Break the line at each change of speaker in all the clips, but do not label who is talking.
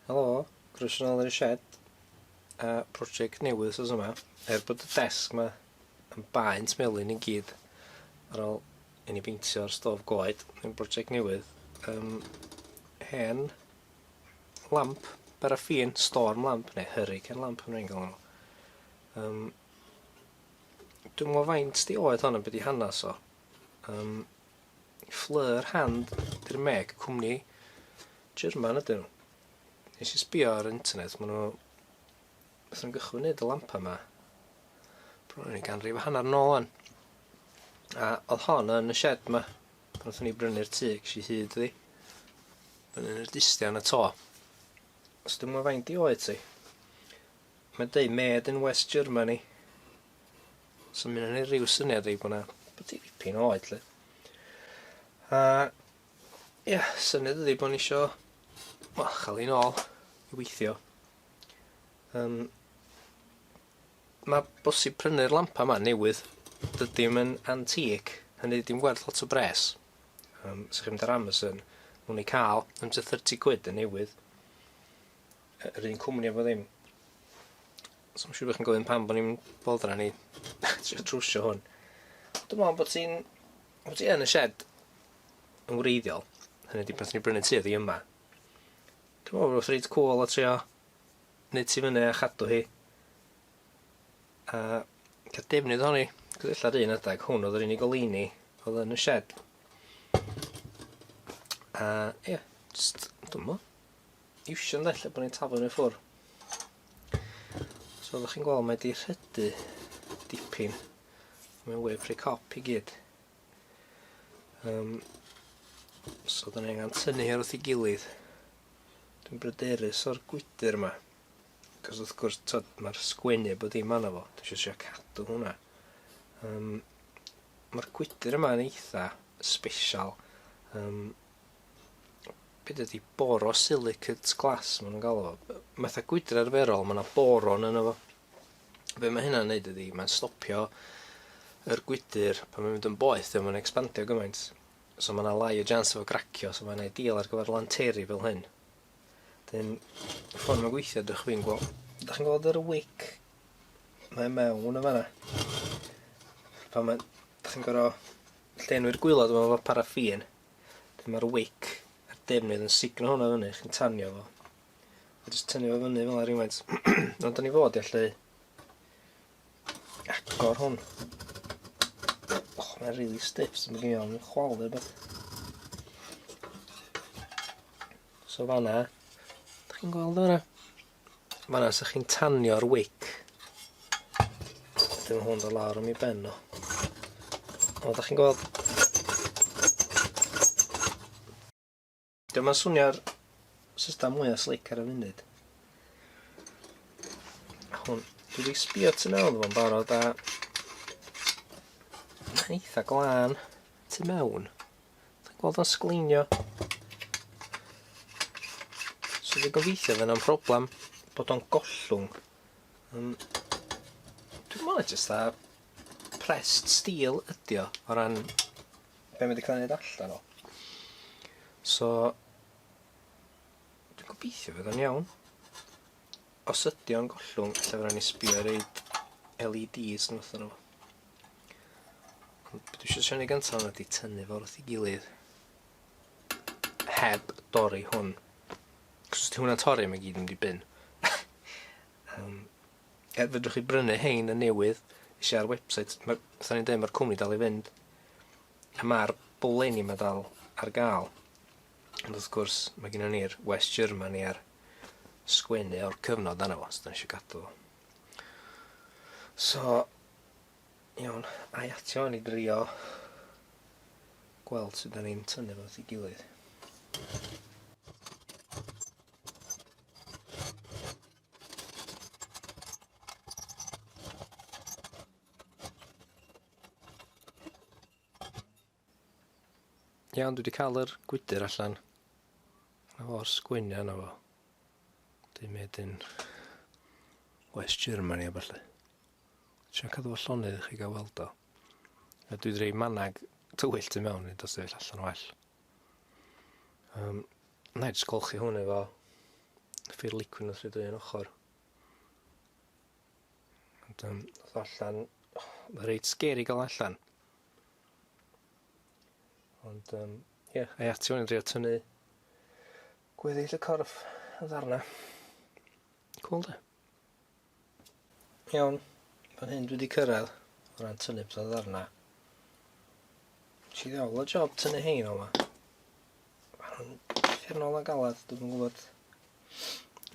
Helo, croeso nôl yn y shed. A project newydd sos yma. Er bod y desg yma yn baent melyn i gyd ar ôl i ni beintio'r stof goed, yn project newydd, um, hen lamp baraffin, storm lamp, neu hurricane lamp yn rhaid gael nhw. Um, dwi'n mwyn faint di oed hon yn byd i hanes o. Um, Fleur Hand 'di'r meg, cwmni German ydyn nhw. Nes i sbio ar internet, maen nhw... Beth nhw'n gychwyn neud y lampa yma. Bron yn ganrif a hanner nôl o'n. A oedd hon yn y shed yma. Pan oeddwn ni brynu'r tŷ, ges i hyd iddi. Brynu yn y distian y to. Os dwi'n mwyn faint i oed ti. Mae'n dweud made in West Germany. So mae'n ei rhyw syniad i bod yna dipyn o oed, lle. A, ia, yeah, syniad ydi bod ni isio, wel, chael ei nôl i weithio. Um, mae bosib prynu'r lampa yma newydd. Dydy mae'n antic, hynny ddim gwerth lot o bres. Um, Sa'ch chi'n mynd ar Amazon, mwyn ei cael, am 30 quid yn newydd. yr un cwmni efo ddim. So mae'n siŵr bod chi'n gofyn pam bod ni'n boddran ni trio trwsio hwn. Dwi'n meddwl bod ti'n... bod ti yn y shed yn wreiddiol. Hynny wedi pan ti'n brynu tu ydi yma. Dwi'n meddwl bod rhaid cwl o trio nid ti fyny a chadw hi. A cael defnydd o'n i. Gwyddillad un adeg, hwn oedd yr unig oleini oedd yn y shed. A ie, yeah, just, dwi'n meddwl. iwsio ynde lle bod ni'n taflu nhw i ffwr. So oeddech chi'n gweld mae wedi rhydu dipyn. Mae'n web rhy cop i gyd. Um, so dyn ni angen tynnu hyn wrth i gilydd. Dwi'n bryderus o'r gwydr yma. Cos wrth gwrs, tod, mae'r sgwennu bod dim anna fo. Dwi eisiau siarad cadw hwnna. Um, mae'r gwydr yma yn eitha special. Um, be' 'di o 'di boro silicate glass ma' nw'n galw fo. Yy matha gwydr arferol ma' 'na boron yno fo. Be' ma' hynna'n neud ydi mae'n stopio yr gwydyr pan mae'n mynd yn boeth 'di o'm yn ecspandio gymaint so ma' 'na lai o jans o fo gracio so mae'n ideal ar gyfer lanteri fel hyn. 'Dyn y ffor ma'n gweithio dych chwi'n gwel', dych chi'n gweld yr wick? Mae o mewn yn fan 'na. Pan mae... Dych chi'n gor'o' llenwi'r gwilod efo paraffin Wedyn mae'r wick a'r defnydd yn signo hwnna fyny, chi'n tanio fo. A jyst tynnu fo fyny fel rhywfaint. Ond da ni fod i allu agor hwn. Och, mae'n really stiff, sy'n mynd i o'n chwal neu beth. So fanna, da chi'n gweld o fanna? Fanna sa chi'n tanio'r wic. Dim hwn do lawr am i ben nhw. O, da chi'n gweld? Dyma'n swnio'r system mwyaf slic ar y funud. Hwn, dwi wedi sbio tu mewn fo'n barod a... Mae'n eitha glân tu mewn. Ti'n gweld o'n sgleinio? So dwi'n gobeithio fe na'n problem bod o'n gollwng. Um, dwi'n mwyn jyst a pressed steel ydi o, o ran be mae wedi cael ei wneud allan o. So, dwi'n gobeithio fydd o'n iawn. Os ydi o'n gollwng, lle fydden ni sbio reid LEDs yn fath o'n nhw. Dwi eisiau siarad gyntaf ydy tynnu fo wrth ei gilydd heb dorri hwn. Cos os ti hwnna'n torri mae gyd yn mynd i bin. um, er fedrwch chi brynu hein yn newydd eisiau ar website. Mae, fatha ni'n dweud, mae'r cwmni dal i fynd. A mae'r bwleni mae dal ar gael. Ond wrth gwrs, mae gennym ni'r West Germany a'r sgwennu o'r cyfnod yna fo, so da ni eisiau gadw. So, Iawn, ai atio ni drio gweld sut da ni'n tynnu fo at ei gilydd. Iawn, dwi wedi cael yr gwydr allan. Na fo'r sgwenia yna fo. Dwi'n mynd yn West Germany a falle. Sian cadw fo llonydd i chi gael weld o. A dwi wedi rhoi manag tywyll tu mewn i dos sefyll allan well. Um, na i jyst golchi hwn efo ffyr licwyn wrth rydw i'n ochr. Ond um, allan, reit sgeri gael allan. Ond, um, ie, yeah, ei ati o'n i'n drio tynnu gweddill y corff yn ddarna. Cool de? Iawn, pan hyn dwi wedi cyrraedd o ran tynnu pethau ddarna. Si ddiawl o job tynnu hein o'ma. Mae'n ffernol a galad, dwi'n yn gwybod.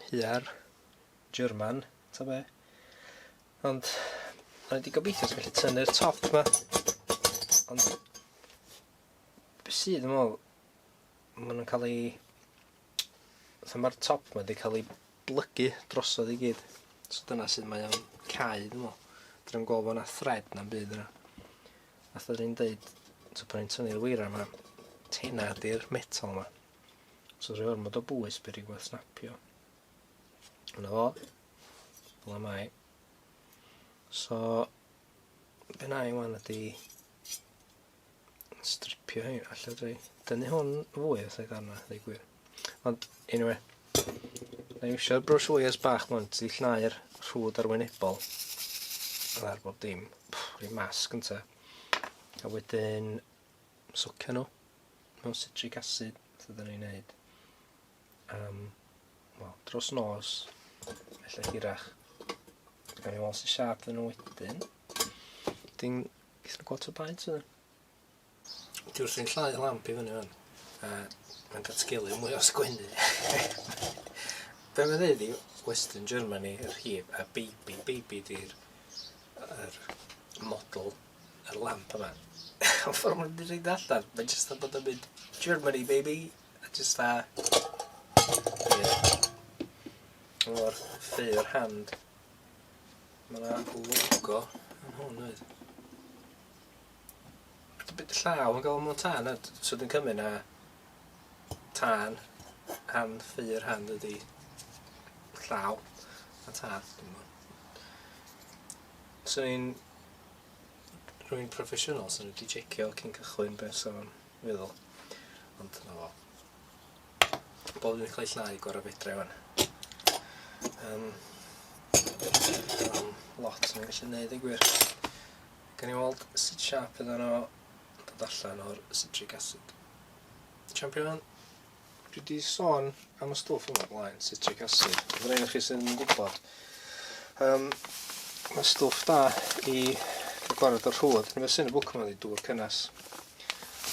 Hiar, German, ta be. Ond o'n i 'di gobeithio sa gallu tynnu'r top 'ma ond be' sy dwi me'wl ma' nw'n ca'l 'u fatha ma'r top 'ma 'di ca'l 'i blygu drosodd i gyd so dyna sud mae o'n cau dwi me'wl. Dwi'm gwel' bo' 'na thread na'm byd yna. Fatha o'n i'n deud t'o' pan o'n i'n tynnu'r weiria 'ma tena 'di'r metal 'ma so sa fo'n ormod o bwys by' rywbeth snapio. Dyna fo. Dyna mai. So, be na i wan ydi stripio hyn allan dwi. Dyny hwn fwy os ei ddarna, ddeu gwir. Ond, anyway, na i eisiau brwys fwy as bach mwyn, ti llnau'r rhwyd arwynebol ar bob dim. Rhi mas gynta. A wedyn, socio nhw mewn citric acid, sydd yn ei wneud. am, wel, dros nos, felly hirach. Gawn ni weld sy'n siarp yn nhw wedyn. Dyn, gyda'n gweld to baint wedyn. Dwi wrthi'n llai lamp i fyny fan. A mae'n datgelu mwy o sgwennu. Be mae'n dweud i Western Germany, yr hib, a baby, baby di'r er model, yr lamp yma. Ond ffordd mae'n dweud allan, mae'n jyst yn bod yn mynd, Germany baby, A jyst fatha... Mor fur hand. Ma' 'na logo yn hwn does? Be' 'di llaw yn galw mewn tân a d- so dwi'n cymyd na tân hand fur hand ydi llaw a tân dwi'm yn gwbo. Swn i'n rwy'n proffesiynol swn i 'di jecio cyn cychwyn be' sa fo'n Meddwl. Ond dyna fo. Bol yn cael ei llnau gorau fedra i fan. Um, um, lot yn gallu neud ei gwir. Gan i weld sut siap iddyn nhw dod allan o'r citric acid. Champion? Dwi 'di sôn am y stwff yma blaen, citric acid. Mae'n rhaid i chi sy'n gwybod. Um, mae stwff da i gwared o'r rhwyd. Nid sy'n y bwc yma wedi dŵr cynnes.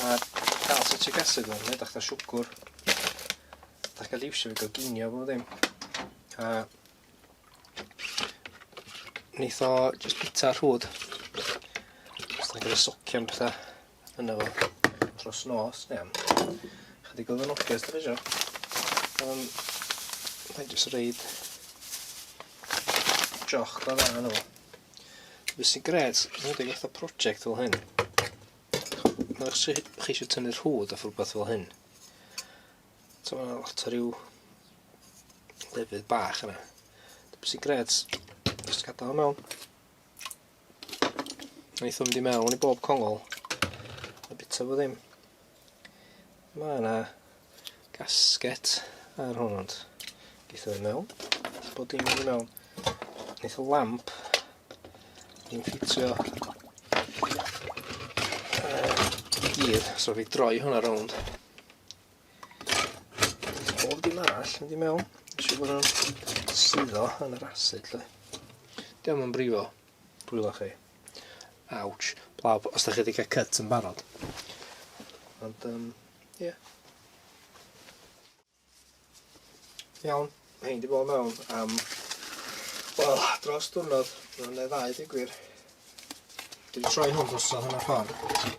A cael citric acid yma, mae'n edrych da siwgwr. Da cael liwsio fi goginio fo ddim. A neith o just bita rhwyd. Os da cael ei socio am bethau. yn efo dros nos neu am chydig o ddynodiad dwi eisiau. Um, Mae'n jyst reid joch da dda nhw. Beth sy'n gred, yn wedi gwaith o prosiect fel hyn. Mae'n eich chi eisiau tynnu rhwyd off rhywbeth fel hyn. So mae'n lot o ryw lefydd bach yna. Beth sy'n gred, jyst gadael mewn. Wnaethon mynd i mewn i bob congol. A bita fo ddim. Mae yna gasget ar hwn ond. Geitho fe mewn. Bod dim mynd i mewn. Neith o lamp. Ni'n ffitio. Uh, gyd. So fi droi hwnna rownd. Pob dim arall mynd i mewn. Nes i fod nhw'n suddo yn yr acid, lle. Diolch yn brifo. Dwylo chi. Ouch. Blaw, os da chi wedi cael cut yn barod. Ond, um, ie. Yeah. Iawn, mae hyn di bod mewn am, wel, dros diwrnod, neu ddau, di gwir. Dwi'n troi hwn drosodd hwnna ffordd.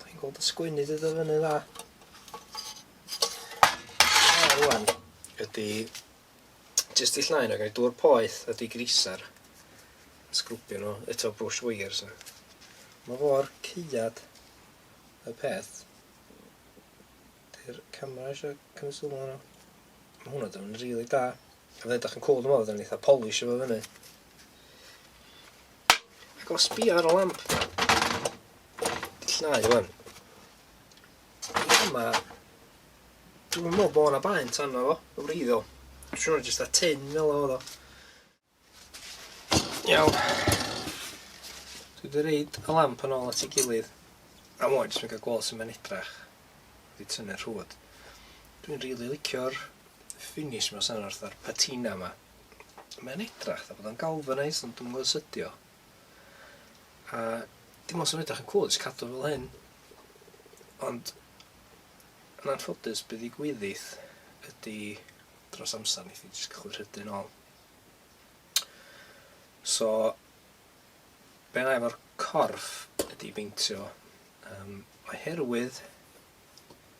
Dw i'n gweld y sgwennu 'di dod fyny'n dda. A rwan ydi jyst i llnau yna, gael dŵr poeth a di grisar. Sgrwbio nhw eto brush wires yna. Mae fo'r ceiad y peth. Dy'r camera eisiau cymryd sylw yna. Mae hwnna dod yn rili really da. Fe ydych yn cool dwi'n meddwl, fod yn eitha polish efo fyny. Ac os bi ar y lamp, llnau rwan. Yma, dwi'n meddwl bod yna baent arno fo, o wreiddiol. Dwi'n siŵr jyst a tin fel oedd o. Iawn. Dwi wedi reid y lamp yn ôl at ei gilydd. A mwy, jyst yn cael gweld sy'n mynd edrach. Wedi tynnu'r rhwyd. Dwi'n rili really licio'r finish yma sy'n wrth ar patina yma. mae o'n edrach dda bod o'n galvanised ond dwi'm yn gwybod sut ydio. A dim ond sy'n edrach yn cwl, jyst cadw fel hyn. Ond yn anffodus bydd i gwyddill ydy dros amser nes i jyst cychwyn rhydyn ôl. So, be na efo'r corff ydy beintio um, oherwydd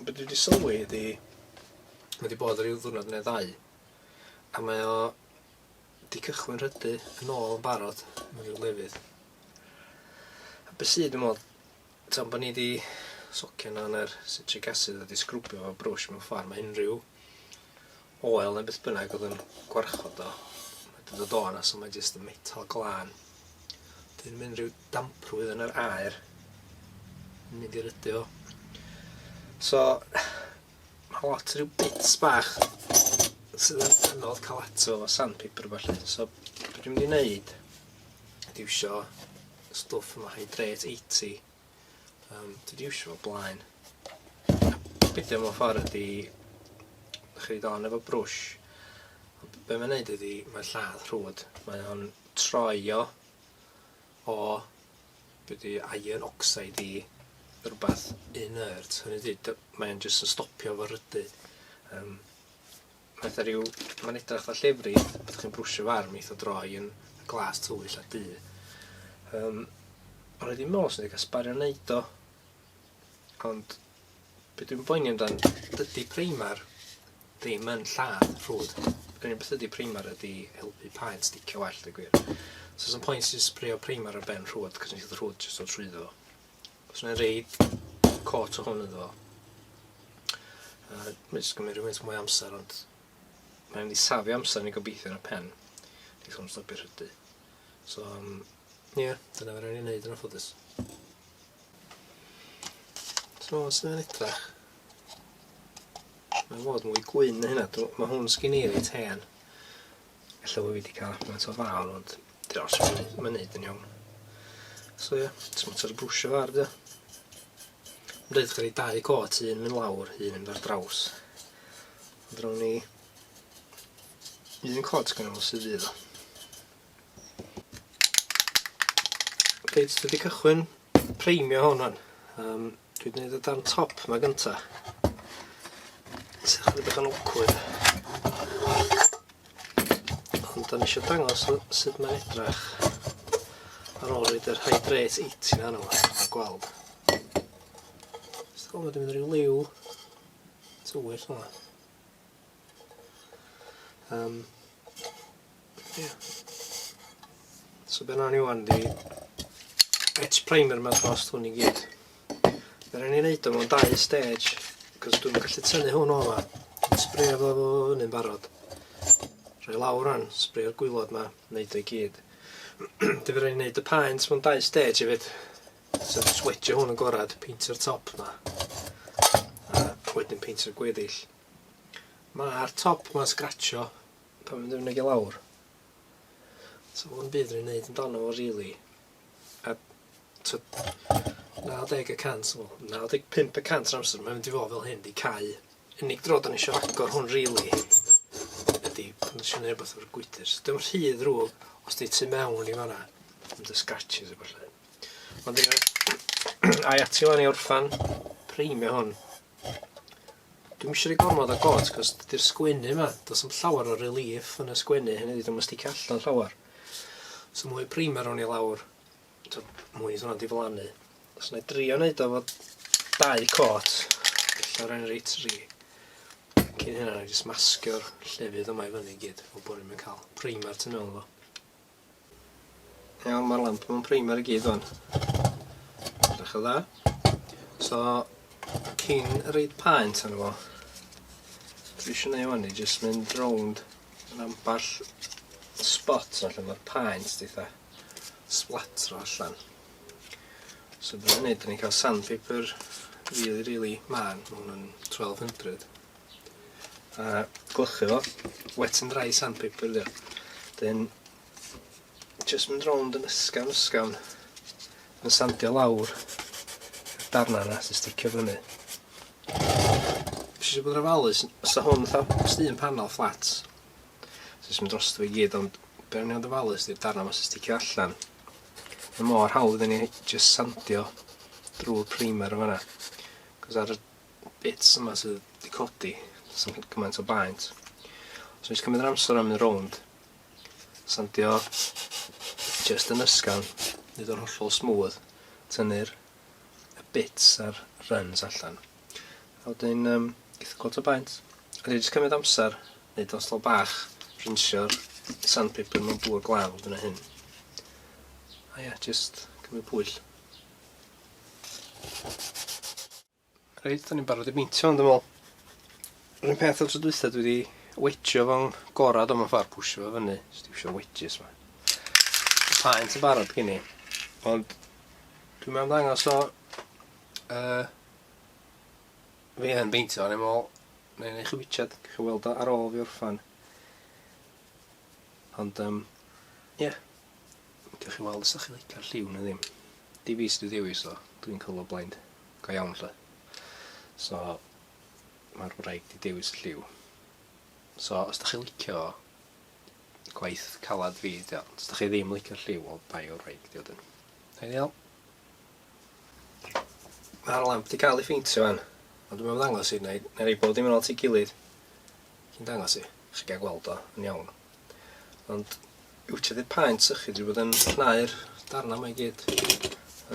Be dwi 'di sylwi ydi ma' 'di bod ryw ddwrnod ne' ddau a mae o 'di cychwyn rhydu yn ôl yn barod mewn ryw lefydd. A be' sy dwi me'wl tan bo' ni 'di socian lan yr citric acid a 'di sgrwbio fo brwsh mewn ffor ma' unryw Oel neu beth bynnag oedd yn gwarchod o. Mae dod o do yna, so mae jyst y metal glân. Dyn mynd rhyw damprwydd yn yr aer. Yn mynd i'r ydy o. So, mae lot rhyw bits bach sydd yn anodd cael ato o sandpaper falle. So, beth dwi'n mynd i wneud ydy iwsio stwff yma, hydrate 80. Yym dwi 'di iwsio fo o blaen. Be' 'di o mewn ffor ydi dach chi roid o on efo brwsh ond be' mae'n neud ydi mae'n lladd rhwd. Mae o'n troi o o be' 'di iron oxide i rwbath inert hynny ydi dy- mae o'n jyst yn stopio fo rydu. Yym. Pethau rhyw, mae'n edrych fatha llefrith, beth chi'n brwsio'r farm eith o droi yn glas tywyll a du. Um, ond rydyn meddwl sy'n cael sbario wneud o. Ond beth dwi'n boeni amdan, dydy primer ddim yn lladd ffrwd. Yr unig beth ydy primer ydy helpu paent sticio well, dwi'n gwir. So, sy'n pwynt sy'n sprio primer ar ben rhwyd, cos nes i'n rhwyd jyst o trwyddo. Os yna reid cot o hwn iddo fo. Mae'n jyst gymryd rhywbeth mwy amser, ond mae'n mynd i safio amser ni gobeithio ar y pen. Dwi'n sôn stopio rhydu. So, um, ie, yeah, dyna fe rhaid i wneud yn ffodus. So, os yna'n edrach, mae'n fod mwy gwyn na hynna. Mae hwn sgyn i reit hen. Ella bo' fi 'di ca'l gymaint o fal ond 'di o js ddim yn neud yn iawn. So ie, js mater o brwsio fo ar 'di o. Ma'n deud gennai dau cot, un myn' lawr, un yn mynd ar draws. Ond rown ni un cot gynno fo sy fydd o. Reit, dwi 'di cychwyn preimio hwn ŵan. Yym Dwi 'di neud y darn top 'ma gynta. Sy chydig bach yn awkward. Ond o'n i isio dangos sut mae'n edrach ar ôl roed yr hydrate 80 na arno fo, a gweld. Jyst gweld bod yn mynd rhyw liw tywyll yma. Um, yeah. So be nawn ni wan di et primer ma'n dost hwn i gyd. Fe rhaid ni wneud o mewn dau stage, cos dwi'n gallu tynnu hwn o yma. Sbrio fo fo hynny'n barod. Rhoi lawr rhan, sbrio'r gwylod ma, wneud o'i gyd. Dwi'n rhaid wneud y paent mewn dau stage hefyd. So switch o hwn yn gorad, peintio'r top ma. A wedyn peintio'r gweddill. Ma'r top ma'n sgratsio pan fi'n mynd i lawr. So ddim byd fi'n neud amdano fo rili. A t'od 90 y cant wel 95 y cant o'r amser mae'n mynd i fo' fel hyn 'di cau. Unig dro 'dan ni isio agor hwn rili ydi pan isio neu' rwbath efo'r gwydyr. So dio'm rhy ddrwg os 'di tu mewn i fanna yn dy sgratsio a ballu. Ond ia ai ati ŵan i orffan primio hwn? Dwi'm isio rhy gormod o gôt 'c'os dydi'r sgwennu 'ma, do's na'm llawar o relief yn y sgwennu hynny ydi 'di o'm yn sticio allan llawar. So mwy o primer rown i lawr. T'o' mwy iddo fo'n diflannu. So nâi drio neud o fo dau côt. Ella rai' ni roi tri. Cyn hynna nâi jyst masgio'r llefydd yma i fyny i gyd fel bo' ni'm yn ca'l primer tu mewn iddo fo. Iawn, mae'r lamp mewn primer i gyd o'n. Edrych yn dda. So, cyn reid paent arno fo, dwi eisiau neud o'n i jyst mynd rownd yn amball spot allan mae'r paent ditha splatro allan. So, dwi'n neud, dwi'n cael sandpaper really, really man, mae hwnna'n 1200. a gwlychu fo. Wet and dry sandpaper ydi o. Wedyn jyst mynd rownd yn ysgafn ysgafn yn sandio lawr y darnau yna sy'n sticio fyny. Nes i bod yn ofalus, os da hwn fatha os un panel fflat, jyst mynd dros fo i gyd, ond be o'n i'n fod yn ofalus ydy'r darnau yma sy'n sticio allan. Mae mor hawdd i ni jyst sandio drwy'r primer o fanna. Cos ar y bits yma sydd wedi codi, sy'n gwneud gymaint o baent. So nes cymryd yr amser am mynd rownd, sandio just yn ysgan, nid o'r hollol smooth, tynnu'r y bits a'r runs allan. A wedyn, um, gyda gweld o baent, a dwi wedi cymryd amser, nid os lo bach, rinsio'r sandpaper mewn bwyd glaw, dyna hyn. A ie, yeah, just cymryd pwyll. Reit, 'dan ni'n barod i beintio 'wan dwi me'wl. Yr un peth â'r tro dwytha dwi 'di wedgio fo'n gora do mewn ffor pwsio fo fyny jyst iwsio wedges 'ma. Ma' paent yn barod gen i ond dwi'm am ddangos o yy fi yn beintio o'n i'n me'wl nâi neu' chi witsiad, gewch chi weld o ar ôl fi orffan. Ond um, ie, yeah. Gewch chi weld os ydych chi'n licio'r lliw neu ddim. Di fi sydd wedi dewis o, dwi'n colo blaend. Go iawn lle. So, mae'r wraig wedi dewis y lliw. So, os ydych chi'n licio gwaith calad fi, os ydych chi ddim licio'r lliw, o bai o'r wraig di odyn. Ideal. Mae'r lamp wedi cael ei ffeintio fan, ond dwi'n meddwl ddangos i, neu, neu rei bod dim yn ôl ti gilydd. Cyn dangos i chi gael gweld o yn iawn. Ond yw ti ddim paent sychu dwi bod yn llnau'r darna mae gyd.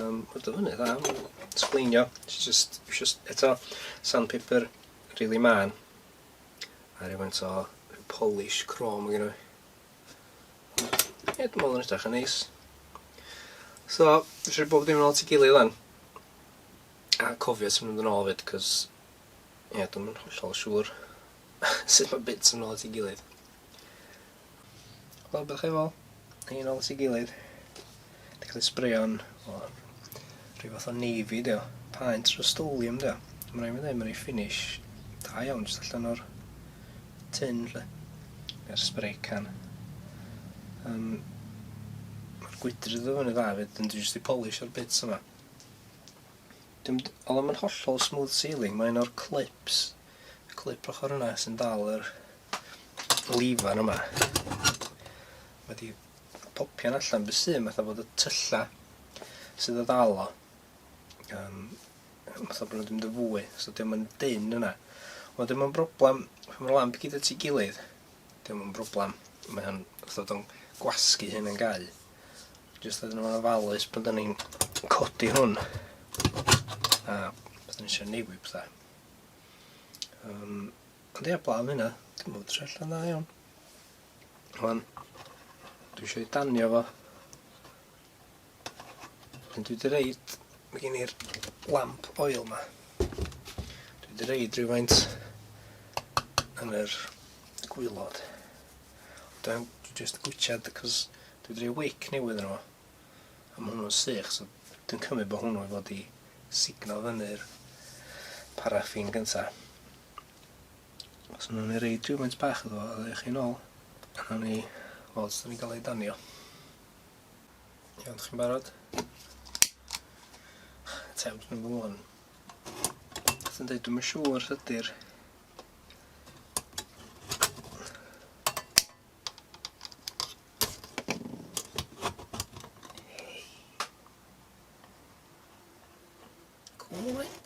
Um, Mae'n dod fyny dda, mae'n sgleinio. Ti just, just eto sandpaper really man. A rhywfaint o polish chrome gyda fi. Ie, dwi'n meddwl yn edrych yn neis. So, eisiau bob dim yn ôl ti gilydd lan. A cofio ti'n mynd yn ôl fyd, cos Ie, dwi'm yn hollol siŵr sut mae bits yn ôl at ei gilydd. Wel, bych efo, un ôl at ei gilydd. Di cael ei sbreo'n, o, rhyw fath o navy, dio. Paent rustolium, dio. Mae'n rhaid mi ddweud, mae'n ei finish da iawn, jyst allan o'r tin, lle. Yr spray can. Um, Mae'r gwydr iddo fyny dda, fyd, ond dwi'n jyst i polish o'r bits yma. Dim d- o'dd o'm yn hollol smooth sailing mae un o'r clips y clip ochor yna sy'n dal yr lifan yma wedi popio'n allan be' sy'n fatha bod y tylla sydd o ddal o yym fatha bod nhw'n mynd yn fwy so dim yn dyn yna ond dim yn broblem pan mae'r lamp gyd at ei gilydd dim yn broblem mae o'n fatha bod o'n gwasgu hyn yn gau Jyst iddyn nhw'n ofalus bod ni'n codi hwn. A bod ni'n eisiau newid pethau. Um, ond ia, blaen hynna, dim bod trell yn dda iawn. Rwan, dwi eisiau danio fo. Ond dwi wedi reid, mae gen i'r lamp oil yma. Dwi wedi reid rhywfaint yn yr gwylod. Ond dwi dwi jyst yn gwitchad 'c'os dwi 'di roi wic new iddyn nhw. A ma' hwnnw'n sych so dwi'n cymryd bo' hwnnw i fod i signo fyny'r paraffin gynta. Os nawn ni roi rhywfaint bach iddo fo a ddewch chi nôl a nawn ni weld sut 'dan ni'n ga'l ei danio. Iawn, 'dych chi'n barod? Attempt number one. Os yn deud dwi'm yn siŵr ydi'r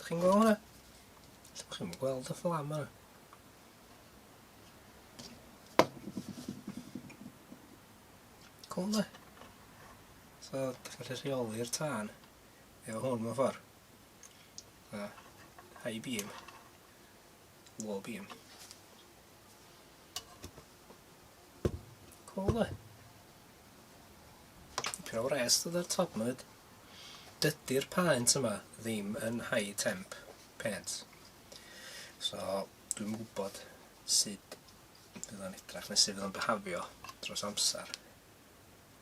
chi'n gweld hwnna? Ydych chi'n gweld y fflam yna? Cool, So, ydych chi'n gallu rheoli'r tân efo hwn mewn ffordd. High beam. Wall beam. Cool e. Pyn o wres dod ar top myd. Dydy'r paent yma ddim yn high temp paint. So, dwi'n gwybod sut fydd o'n edrach neu sut fydd o'n behafio dros amser.